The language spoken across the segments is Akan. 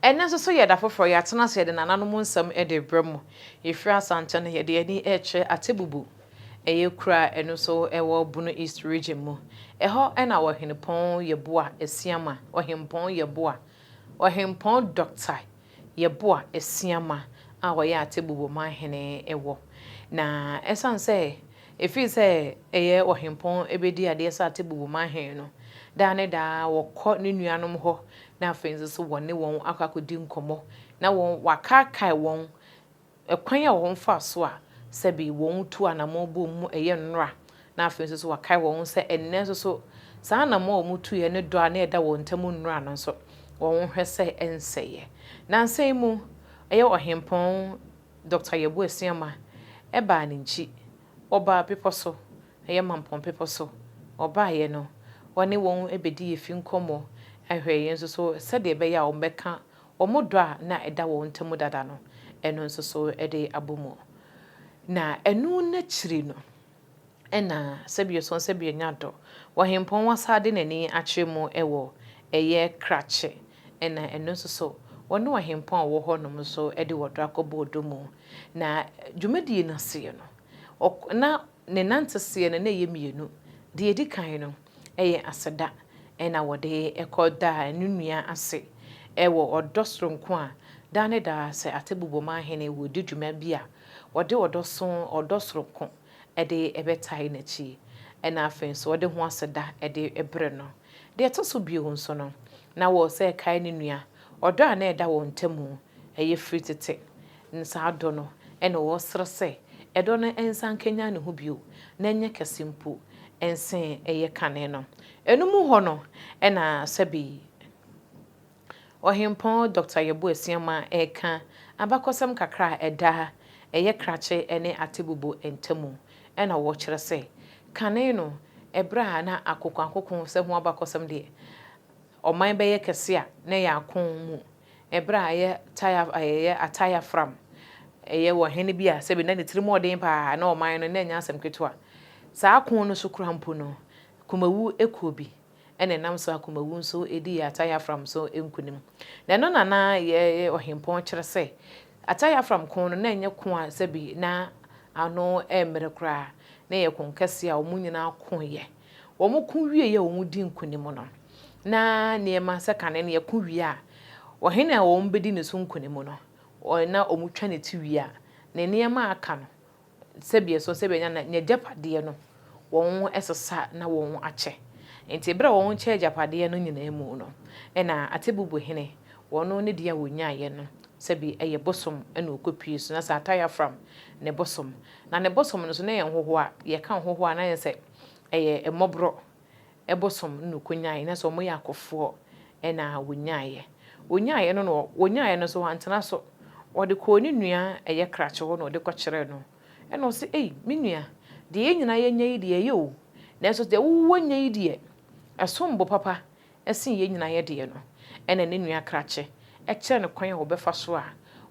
Ɛnnɛ nso so yɛ da foforɔ, yɛatena ase de nananom nsɛm de rebrɛ mo. Yɛfiri Asante no, yɛde yɛn ani rekyerɛ Atebubu, ɛyɛ kuro a ɛno nso ɛwɔ Bono East Region mu. Ɛhɔ na Ɔhenepɔn Yeboah Asiamah, Ɔhempɔn Yeboah, Ɔhempɔn Dɔkta. Yeboa Asiamah a ɔyɛ Atebu Boma hene wɔ. Na ɛsiane sɛ ɛfiri sɛ ɛyɛ ɔhempɔn bɛdi adeɛ sɛ Atebu Boma hene no, daa ne daa wɔkɔ ne nuanom hɔ na afei nso so wɔne wɔn akɔ akɔdi nkɔmmɔ na wɔakaakae wɔn Ɛkwan a wɔn faa so a sɛbe wɔn tu anamɔn bom mu ɛyɛ nnora na afei nso so wakae wɔn ho sɛ ɛnnɛ nso so saa anamɔn a wɔn tuiɛ ne dɔ a na ɛda wɔn ntam nnora no nso wɔn hwɛ sɛ ɛnsɛeɛ. Nansa yi mu ɛyɛ Ɔhempɔn Doctor Yeboah Asiamah ɛbaa ne nkyi, wɔbaa bepɔ so, ɛyɛ Mampong bepɔ so, wɔbaeɛ no wɔne wɔn ɛbɛdii afi nkɔmmɔ, ɛhwɛeɛ nso so sɛdeɛ ɛbɛyɛ a wɔbɛka Wɔn dɔ a na ɛda wɔn ntam dada no, ɛno nso so de abɔ mu. Na ɛno no akyiri no, ɛna sɛbio so sɛbio nya dɔ wɔ hempɔn wɔsa de n'ani akyerɛ mu wɔ ɛyɛ krakye, ɛna ɛno nso so wɔne ɔhempɔn a ɔwɔ hɔ nom nso de wɔdɔ akɔbɔ ɔdɔ mu. Na dwumadie no aseɛ no, na ne nanteseɛ no na ɛyɛ mmienu. Deɛ ɛdi kan no, Ɛyɛ aseda na wɔde kɔ da a ɛno nni ase wɔ ɔdɔ soronko a daa ne daa sɛ Atebobom Ahene redi dwuma bi a wɔde ɔdɔ so ɔdɔ soronko de bɛtae n'akyi na afei nso wɔde ho aseda de brɛ no. Deɛ ɛtɔ so bio nso no, na wɔsɛ ɛkae ne nua ɔdɔ a na ɛda wɔn ntam Ɛyɛ firi tete ne saa dɔ no na wɔresrɛ sɛ ɛdɔ no nsan nkanyan ne ho bio na ɛnyɛ kɛse mpo nsen ɛyɛ kane no. Ɛno mu hɔ no na sɛbe yi Ɔhempɔn Dɔkta Yeboah Asiamah reka abakɔsɛm kakra a ɛda ɛyɛ krakye ne atebubu ntamu na wɔkyerɛ sɛ kane no ɛberɛ a na akokoakoko sɛ ho abakɔsɛm deɛ ɔman bɛyɛ kɛse a na ɛyɛ ako mu Ɛberɛ a ɛyɛ taya ɛyɛ ataya fram ɛyɛ wɔ hene bi a sɛbe na ne tiri mu ɔden paa na ɔman no na ɛnyɛ asɛm ketewa saa ko no so kura mpo no kumawu ɛkuo bi na ɛnam so a kumawu nso ɛdi yɛ ataya fram so nkunim na ɛno na na yɛ ɔhempɔn kyerɛ sɛ ataya fram ko no na ɛnyɛ ko a sɛbe na ano ɛmmerɛ koraa na ɛyɛ ko kɛseɛ a wɔn nyinaa ko yɛ. Wɔko wiei a wɔdii nkonim no, na nneɛma sɛ kane no yɛko wie a, ɔhene a wɔbɛdi ne so nkonim no, na wɔtwa ne ti wie a, ne nneɛma a aka no, sɛdeɛ ɛsoɔ sɛ bɛnya no, n'agyapadeɛ no, wɔsesa na wɔakyɛ. Enti berɛ a wɔkyɛɛ agyapadeɛ no nyinaa mu no, ɛnna Atebubu hene, ɔno ne deɛ a ɔnyaeɛ no, sɛbi ɛyɛ bosom na ɔkɔpue so, na sɛ Atayafram ne bosom, na ne bosom no nso na ɛyɛ nhohoa, yɛka nhohoa a na ayɛ sɛ. ɛyɛ mmɔborɔ bosom na ɔkɔnyaeɛ, na sɛ wɔyɛ akofoɔ na wɔnyaeɛ. Wɔnyaeɛ no na wɔnyaeɛ no nso wantena so, ɔde kɔɔ ne nua a ɛyɛ krakye hɔ na ɔde kɔkyerɛɛ no, ɛna ɔse, Ei me nua, deɛ yɛn nyinaa yɛanya yi deɛ ɛyɛ o, nanso deɛ wo woanya yi deɛ, ɛsom bo papa sen yɛn nyinaa yɛ deɛ no. Ɛna ne nua krakye kyerɛɛ no kwan a wɔbɛfa so a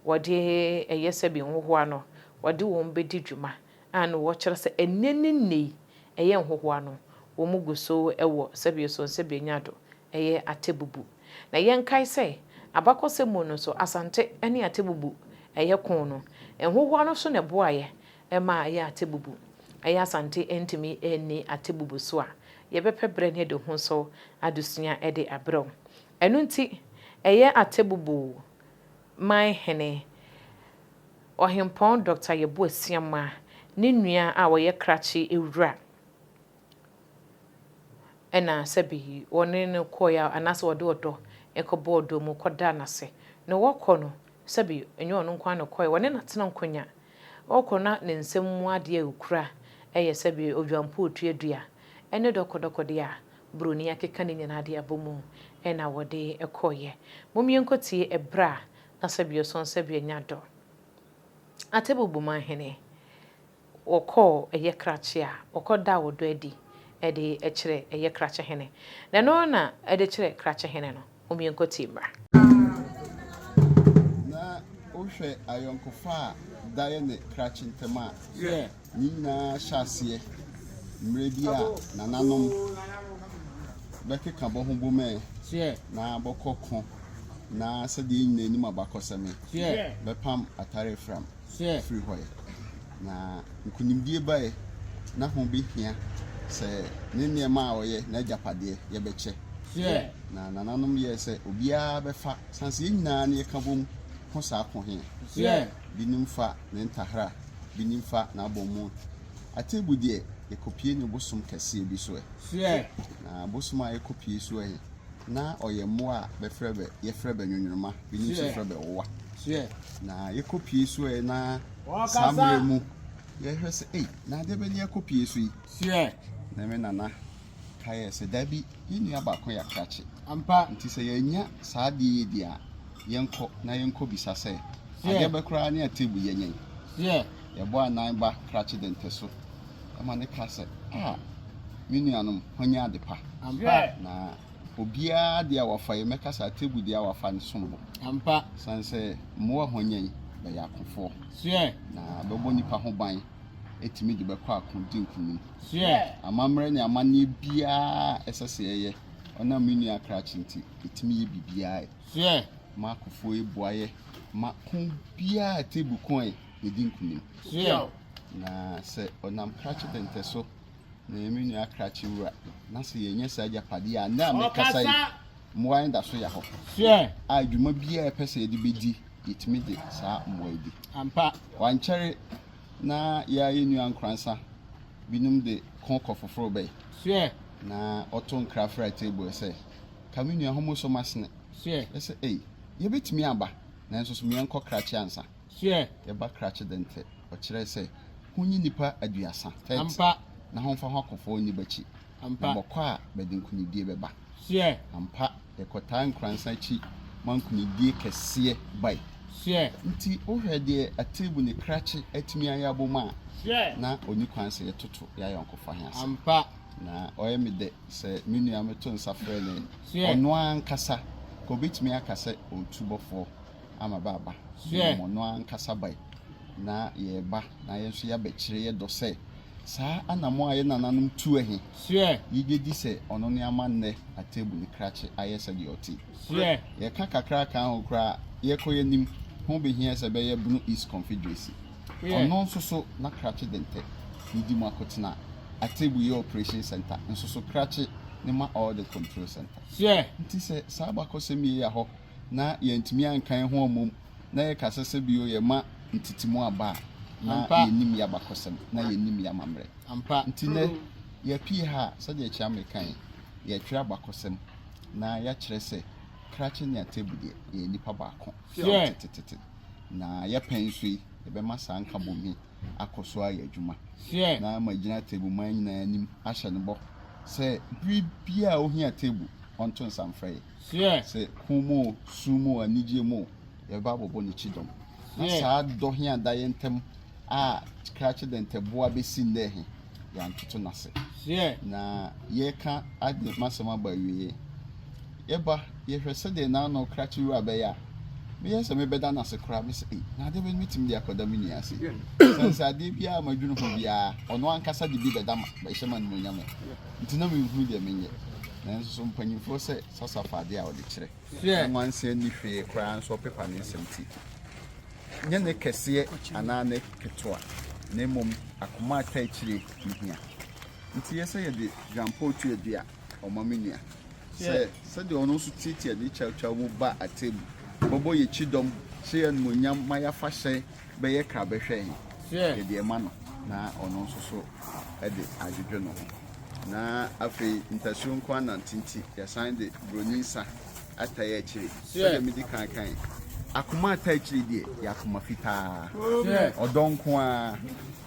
wɔde ɛyɛ sɛ bi nhohoa no, wɔde wɔn bɛdi dwuma. a na wɔkyerɛ sɛ ɛnnɛ ne nnɛ yi ɛyɛ nhohoa no, wɔgu so wɔ sɛbio so nsɛbio nya do yɛ Atebubu. Na yɛnkae sɛ, abakɔsɛm mu no nso Asante ne Atebubu yɛ koo no. Nhohoa no nso na ɛboaeɛ maa ɛyɛɛ Atebubu. Ɛyɛ Asante antumi anni Atebubu so a, yɛbɛpɛ berɛ ne yɛde ho so adesua de abrɛ wo. Ɛno nti, ɛyɛ Atebubu. man hene, Ɔhempɔn Dɔkta Yeboah Siamah, ne nua a ɔyɛ krakye awura na sɛbe wɔne no kɔɔe a, anaasɛ wɔde ɔdɔ kɔbɔɔ dɔm kɔdaa no ase. Na wɔkɔ no, sɛbe ɛnyɛ ɔno nko ara na ɔkɔe, wɔne no atena nkonya. Ɔkɔ na ne nsam mu adeɛ a ɔkura yɛ sɛbe odwampootuo dua ne dɔkɔdɔkɔdeɛ a buroni akeka ne nyinaa de abɔ mu na wɔde kɔeɛ. Mom yɛnkɔtie ɛberɛ a na sɛbe ɔsɔn sɛbe anya dɔ. Atebu Bomahene, wɔkɔɔ ɛyɛ krakye a wɔkɔdaa ɔdɔ adi de kyerɛ ɛyɛ krakyehene. Na ɛno na ɛde kyerɛ krakyehene no. omienkotii mmra. Na wohwɛ ayɔnkofa a daeɛ ne krakye ntam a, ne nyinaa hyɛ aseɛ mmerɛ bi a nananom bɛkeka bɔ ho bom ɛ, na bɔkɔ ko, na sɛdeɛ yɛn nyinaa nim abakɔsɛm ɛ, bɛpam atare afram. firi hɔ ɛ, na nkonimdie ba ɛ, na ho bɛ hia sɛ ne nneɛma a ɔyɛ, n'agyapadeɛ, yɛ bɛ kyɛ. Na nananom yɛɛ sɛ obiara bɛ fa, sane sɛ yɛ nyinaa ne yɛ ka bom ko saa ko he ɛ. Binom fa ne ntahera, binom fa n'abɔmmo atebu deɛ yɛ kɔpie ne bosom kɛseɛ bi so ɛ. Na bosom a yɛ kɔpie so ɛ he. Na ɔyɛ mmoa a bɛfrɛ bɛ yɛfrɛ bɛ nwonworoma binom nso frɛ bɛ wowa na yɛkɔpie so ɛ na saa mmerɛ mu yɛhwɛ sɛ ei na adeɛ bɛ ne yɛkɔpie so yi na me nana ka yɛ sɛ dabi yɛn nua baako yɛ akrakye nti sɛ yɛanya saa adeɛ yɛ di a yɛnkɔ na yɛnkɔ bisa sɛ adeɛ bɛ koraa ne atebu yɛnyɛn yɛbɔ anan ba krakye dɛntɛ so ma no ka sɛ, Ah, me nuanom, hwanya ade pa. Ampa. Na obiara deɛ a wafa yi, mɛka sɛ atebu deɛ a wafa no som bo. Ampa. Sane sɛ mmoa hwanya yi bɛyɛ akofoɔ. Soɛ. Na bɛbɔ nnipa ho ban ɛtumi de bɛkɔ ako di nkonim. Soɛ. Amammerɛ ne amanneɛ biara ɛsɛ sɛ yɛyɛ ɔnam me nua krakye nti ɛtumi yɛ biribiara. Soɛ. Ma akofoɔ yi boayɛ ma ko biara atebu ko yi. yɛdi nkunim. Yɛn. Na sɛ ɔnam krakye dɛntɛ so na yɛn menua akrakye wura, na sɛ yɛnyɛ saa agyapadeɛ a, na mekasa yi, mmoa yɛn da so yɛ hɔ. Sure. A dwuma biara ɛpɛ sɛ yɛde bɛdi, yɛtumi de saa mmoa yi di. Ampa. Wankyɛre na yɛa yɛn nua nkoransa binom de ko kɔ foforo bɛyi. Sure. Na ɔto nkra fra table sɛ, ka me nua homo so masene. Sure. Ɛsɛ, ei, yɛbɛtumi aba, nanso so meɛnkɔ krakye ansa. Hwɛ! Yɛba krakye dɛ ntsɛ. Ɔkyerɛɛ sɛ, Honyi nnipa aduasa, thirty, na homfa hɔn akɔ fɔɔ nniba akyi, na bɔkɔ a, bɛdze nkunyidié bɛba. Hwɛ! Ampa, yɛkɔtaa nkuransa akyi ma nkunyidié kɛseɛ bae. Hwɛ! Ntsi wohwɛ deɛ ateebu ne krakye atumi ayɛ abom a, na onni kwan sɛ yɛtoto y'ayɔnkofa he ase. Ampa. Na ɔyɛ me dɛ sɛ me nua a meto nsa frɛ no yi, ɔnoaa ankasa, nka obetumi aka sɛ ɔɔtu bɔfoɔ. ama bɛaba so mmom ɔno ankasa bae na yɛreba na yɛn nso yɛabɛkyerɛ yɛn dɔ sɛ saa anammɔn a yɛn nananom tuo he, yegye di sɛ ɔno ne ama nnɛ Atebu ne krakye ayɛ sɛdeɛ ɔte. Yɛka kakra kaa ho koraa a, yɛkɔ yɛn anim, ho behia sɛ ɛbɛyɛ Bono East Confederacy. Ɔno nso so na krakye de ntɛ ne di mu akotena. Atebu yɛ operation centre nso so krakye ne ma all the control centre. Nti sɛ saa abakɔsɛm yei ya hɔ na yɛantumi anka yɛn ho ammom na yɛka sɛ sɛ bio yɛma ntetemu aba a, na yɛnnim yɛn abakɔsɛm, na yɛnnim yɛn amammerɛ. Nti nnɛ, yɛapue ha a, sɛdeɛ Kyeame kaeɛ yi, yɛretwerɛ abakɔsɛm na yɛakyerɛ sɛ Krache ne Atebu deɛ, yɛyɛ nnipa baako firi tetetete. Na yɛpɛn nso yi, yɛbɛma saa nkabom yi akɔ so ayɛ adwuma. Na magyina Atebu man nyinaa anim ahyɛ no bɔ sɛ bere biara a ɔhia Atebu, ɔnto nsa mfrɛ yɛn. Sɛ hom mu o, sum mu o, anigyeɛ mu o, yɛbɛba abɔbɔ Ne kyidɔm. Na saa dɔ he a da yɛ ntam a krakye dɛntɛboa besi nnɛ he, yɛantoto no ase. Na yɛreka ade m'asɛm aba awieɛ. Yɛba, yɛhwɛ sɛdeɛ n'ano krakye wura bɛyɛ a, meyɛ sɛ mebɛda no ase koraa. Mese, Ei, na adeɛ bɛn ne mɛtumi de akɔda me nua ase? Esiane sɛ adeɛ biaa a madwene ho biaa, ɔno ankasa de bi bɛda me, bɛhyɛ m'animuonyam ɛ. Nti na menhunu deɛ menyɛ. Nanso so mpanyimfoɔ sɛ sasafa adeɛ a ɔde kyerɛ Hwɛ! nwanseɛ nni hwee koraa nso ɔpepa ne nsɛm ti. Nyɛ ne kɛseɛ anaa ne ketewa na mmom akoma a ɛtaa akyire ne hia. Nti yɛ sɛ yɛde dwampɔw tu adu a ɔma me nua sɛ sɛdeɛ ɔno nso tiatia ne kyawkyaw mu ba atemmu bɛbɔ yɛn kyidɔm, hyɛ yɛn animuonyam ma yɛafa hyɛn. bɛyɛ kra bɛhwɛ he, yɛde ma no na ɔno nso so de adwedwe ne ho. Na afei ntasuo nko ara nante nti, yɛsan de buroni nsa atae akyire. Sɛdeɛ medi kan kae, akoma atae akyire deɛ yɛ akoma fitaa, ɔdɔ nko ara.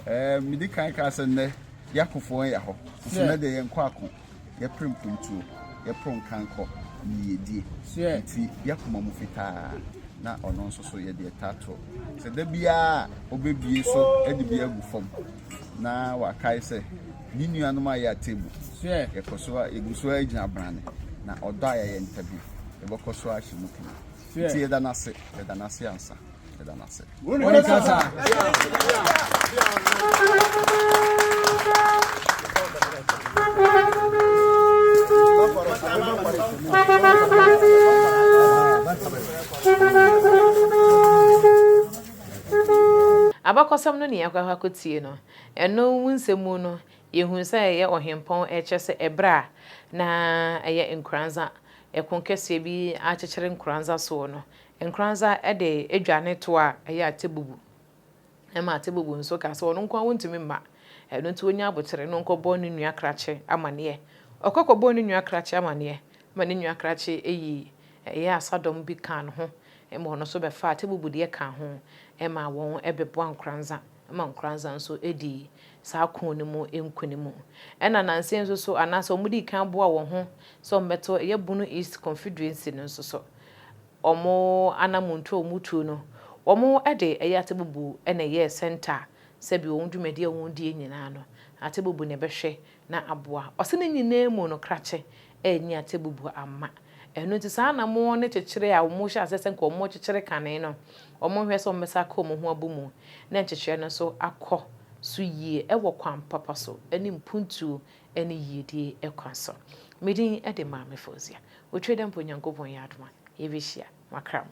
Ɛɛ medi kan kaa sɛ nnɛ yakofoɔ yɛ hɔ, nso nnɛ deɛ yɛnkɔ ako. Yɛpere mpontuo, yɛporo nkankɔ ne yiedie, enti yɛn koma mu fitaa, na ɔno nso so yɛde ɛtaa to. Sɛ da biara ɔbɛbie so de bi agu fam na wakae sɛ ne nuanom a yɛ atemu, yɛkɔ so a yɛgu so a gyina brane, na ɔdɔ a yɛyɛ ntabi, yɛbɛkɔ so ahyɛ mu kene. Nti yɛda no ase, yɛda no ase ansa. meda no ase Abakɔsɛm no nea yɛakɔ akɔtie no, ɛno mu nsɛm mu no, yɛhunu sɛ ɛyɛ ɔhempɔn ɛkyerɛ sɛ ɛberɛ a na ɛyɛ nkoranza, ɛko kɛseɛ bi akyekyere nkoranza soɔ no, Nkoranza de edwa ne toa a ɛyɛ atebubu ma atebubu nso ka sɛ ɔno nko ara ontumi mma, ɛno nti onya abotere na ɔnkɔbɔ ne nua krakye amanneɛ. Ɔkɔ kɔbɔɔ ne nua krakye amanneɛ ma ne nua krakye yi yɛɛ asadɔm bi kaa ne ho ma ɔno nso bɛfaa atebubu deɛ kaa ho ma wɔn bɛboaa Nkoranza ma Nkoranza nso dii saa ko no mu nkunim. Ɛnna nansa yi nso so anaasɛ wɔdii kan boaa wɔn ho sɛ wɔbɛto ɛyɛ Bono East Confederacy no nso so. wɔn anammɔntuo a wɔtuo no, wɔde ɛyɛ atebubu na ɛyɛɛ sɛnta sɛ bi wɔn dwumadi a wɔdie nyinaa no, atebubu na ɛbɛhwɛ na aboa. Ɔse ne nyinaa mu no krakye anyi atebubu amma. Ɛno nti saa na mo ne kyekyere a wɔn hyɛ aseɛ sɛ nka wɔn kyekyere kane no, wɔn nhwɛ sɛ wɔn bɛsan aka wɔn ho abu mu na nkyekyerɛ no nso akɔ so yie wɔ kwan papa so ne mpuntuo ne yiedie kwan so. Me din de Maame Fauzia. Otwa dɛ mpo Onyankopɔn yɛ adom a, yɛbɛhyia. Makra mo.